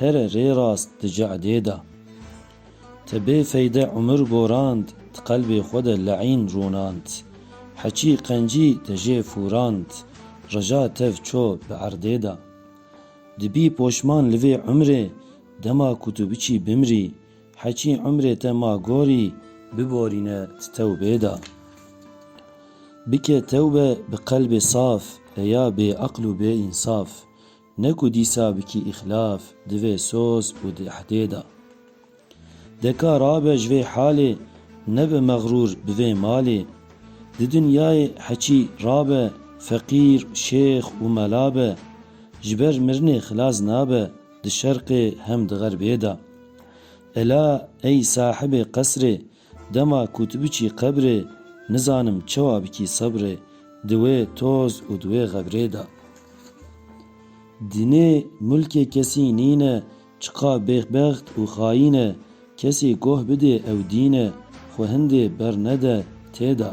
Here rê rast di ce'dê de. Te bê feyde umir gorand Ti qelbê xwe de le'în rûnand Heçî qencî te jê fûrand Reja tev ço bi erdê de. Dibî poşman li vê umrê Dema ku tu biçî bimrî Heçî umrê te ma gorî Biborîne di tewbê de. Bike tewbe bi qelbê saf Eya bêeql û bêînsaf Ne ku dîsa bikî îxlaf, divê soz û di ehdê de. Deka rabe ji vê halê, nebe mexrûr bi vê malê. Di dinyayê heçî rabe, feqîr, şêx û mela be, ji ber mirinê xilas nabe di şerqê hem di xerbê de. Ela ey sahibê qesrê, Dema ku tu biçî qebrê nizanim çawa bikî sebrê di wê toz û di wê xebrê de. Dinê mulkê kesî nîn e çiqa bêxbext û xayîn e kesê goh bidê ew dîn e xwe hindê bernede tê de.